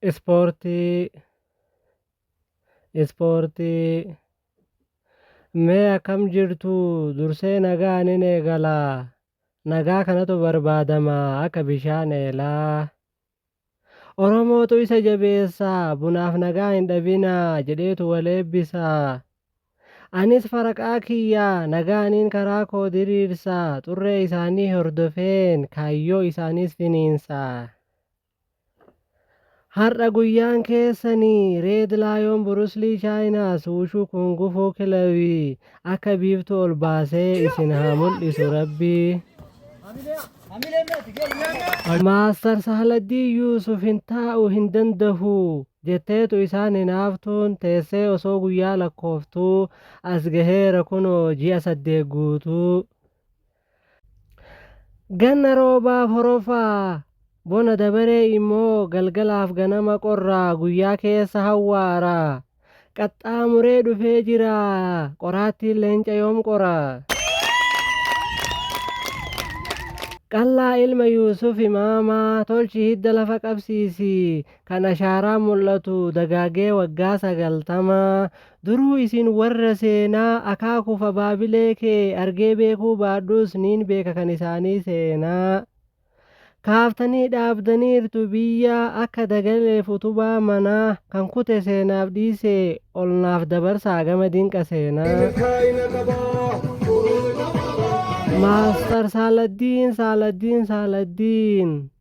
Ispoortii Ispoortii Mee akkam jirtu dursee nagaan in eegala nagaa kanatu barbaadama akka bishaan eelaa Oromootu isa jabeessa bunaaf nagaa hin dhabina jedheetu wal eebbisa Anis faraqaa kiyya nagaaniin karaa koo diriirsa xurree isaanii hordofeen kaayyoo isaaniis finiinsa. Har'a guyyaan keessani! Reed Laayoon Buruslii Chaayinaas Wushuu Kungufuu Kilabii akka biiftuu ol baasee isin haa mul'isu Rabbii! Maastar Sahladdiin Yuusuf hin taa'u hin dandahu jetteetu isaan hinaaftuun teessee osoo guyyaa lakkooftuu as gaheera kunoo ji'a saddeet guutuu. Ganna roobaaf horofaa, bona dabaree immoo galgalaaf ganama qorraa guyyaa keessa hawwaara. Qaxxaamuree dhufee jira qoraattiin leenca yoom qora. Qallaa ilma Yuusuf imaamaa tolchi hidda lafa qabsiisi kan ashaaraan mul'atu dagaagee waggaa sagaltama Duruu isin warra seenaa akaakuuf abaabilee kee argee beekuu baadhuus niin beeka kan isaanii seenaa kaaftanii dhaabdaniirtu biyya akka dagaleef utubaa manaa kan kute seenaaf dhiisee ol naaf dabarsaa gama dinqa seenaa. milkaa'ina qabaa. Maastar Saaladdiin Saaladdiin Saaladdiin.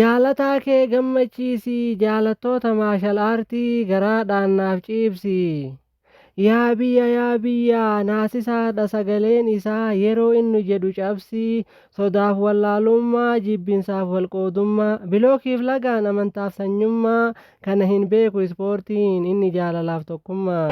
Jaalataa kee gammachiisi Jaalattoota maashal aartii garaadhaan naaf ciibsi Yaa biyya yaa biyya Naasisaadha sagaleen isaa Yeroo innu jedhu cabsi Sodaaf wallaalummaa Jibbinsaaf walqoodummaa Bilookiif lagaan Amantaaf sanyummaa Kana hin beeku ispoortiin inni jaalalaaf tokkummaa.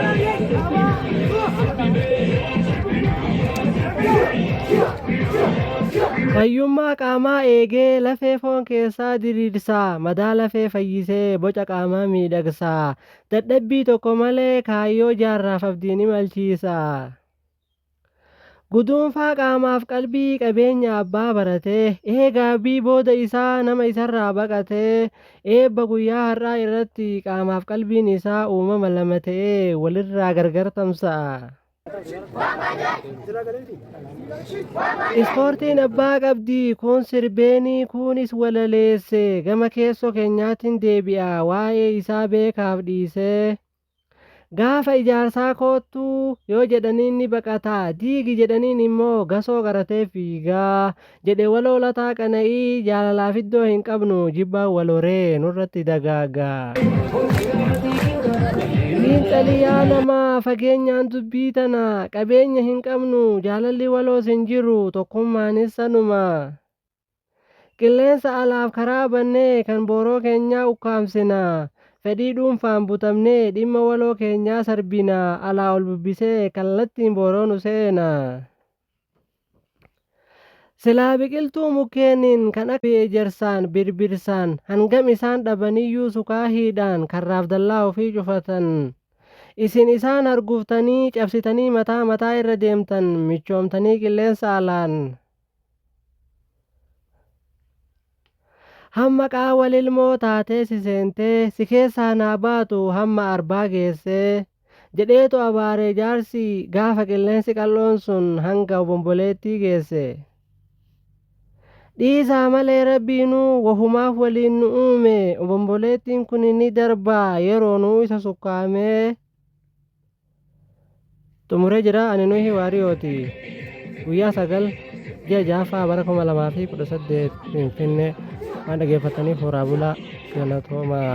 Fayyummaa qaamaa eegee lafee foon keessaa diriirsaa madaa lafee fayyisee boca qaamaa miidhagsaa dadhabbii tokko malee kaayyoo jaarraaf abdiin imalchiisa. Guduunfaa qaamaaf qalbii qabeenya abbaa baratee, eegaa B booda isaa nama isarraa baqatee, eebba guyyaa har'aa irratti qaamaaf qalbiin isaa uumama lama ta'ee walirraa gargar tamsa'a. Ispoortiin abbaa qabdi, kuun sirbeenii, kuunis walaleesse, gama keessoo keenyaatiin deebi'a, waa'ee isaa beekaaf dhiisee. Gaafa ijaarsaa koottu yoo jedhaniin ni baqata, diigi jedhaniin immoo gasoo qaratee fiiga, jedhe waloo Lataa Qana'ii jaalalaaf iddoo hin qabnu jibbaan wal horee nurratti dagaaga. Xiinxali yaa namaa fageenyaan dubbii tana, qabeenya hin qabnu, jaalalli waloos hin jiru, tokkummaanis sanuma. Qilleensa alaaf karaa bannee kan booroo keenyaa ukkaamsina. Fedhii dhuunfaan butamnee dhimma waloo keenyaa sarbina. Alaa ol bubbisee kallattiin booroo nu seena. Silaa biqiltuu mukkeeniin kan akka ejersaan, birbirsaan hangam isaan dhabaniyyuu sukaahiidhaan karraaf dallaa ofii cufatan. Isin isaan harguftanii cabsitanii mataa mataa irra deemtan michoomtanii qilleensa alaan. Hamma qaawwa lilmoo taatee si seentee si keessaa naa baatu hamma arbaa geessee jedheetu abaaree jaarsi gaafa qilleensi qal'oon sun hanga obomboleettii geesse. Dhiisaa malee rabbiinuu wahumaaf waliin nu uume obomboleettiin kun ni darbaa yeroo nuu isa sukkaamee. xumuree jira ani nuhi waariyooti guyyaa sagal ji'a ja'affaa bara kuma lamaa fi kudha saddeet finfinnee waan dhageeffataniif horaa bulaa galatoomaa